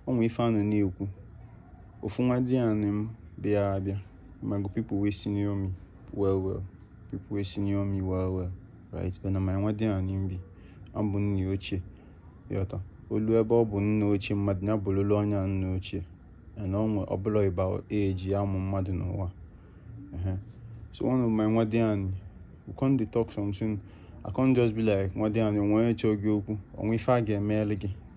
o nwee ife a nọ na-ekwu ofu nwa di anị m bịa abịa mago people wey senior me well well people wey senior me well well right but na my nwa di anị m bi abụ nna ochie yọta olu ebe ọ bụ nna ochie mmadụ ya bụrụ olu ọnya nna ochie and onwe ọbụla ịba eji amụ mmadụ n'ụwa so one of my nwa di anị we come dey talk something I come just be like nwa di anị o nwee onye chọọ gị okwu o nwee ife a ga-emeli gị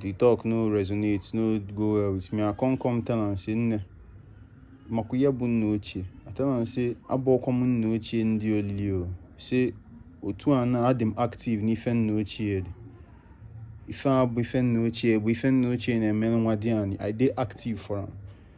the talk no resonate no go well with me i come come tell am say nne makwa ihe bụ nna ochie i tell am say abụọkwa m nna ochie ndị olili o say otu a na adị m active n'ife nna ochie dị ife a bụ ife nna ochie bụ ife nna ochie na-emelụ nwa di anị i dey active for am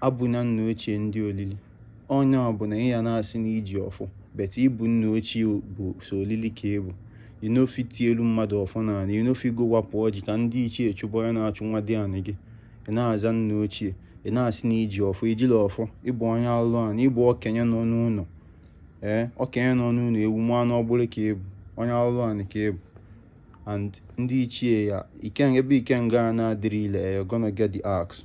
abụna nna ochie ndị olili ọ nya bụ na ị ya na-asị na i ji ọfọ but ị bụ nna ochie bụ sọ olili ka ị bụ you no fit tielu mmadụ ọfọ n'ala you no fit go wapụ ọjị ka ndị ichie chụpụ ihe na-achụ nwa di anị gị ị na-aza nna ochie ị na-asị na i ji ọfọ i jirọ ọfọ ị bụ onye alụ anị ị bụ okenye nọ n'ụlọ ee okenye nọ n'ụlọ ewu mụa n'ọgbụrị ka ị bụ onye alụ anị ka ị bụ and ndị ichie ya ikenga ebe ikenga na-adịrọ ile you're gonna get the axe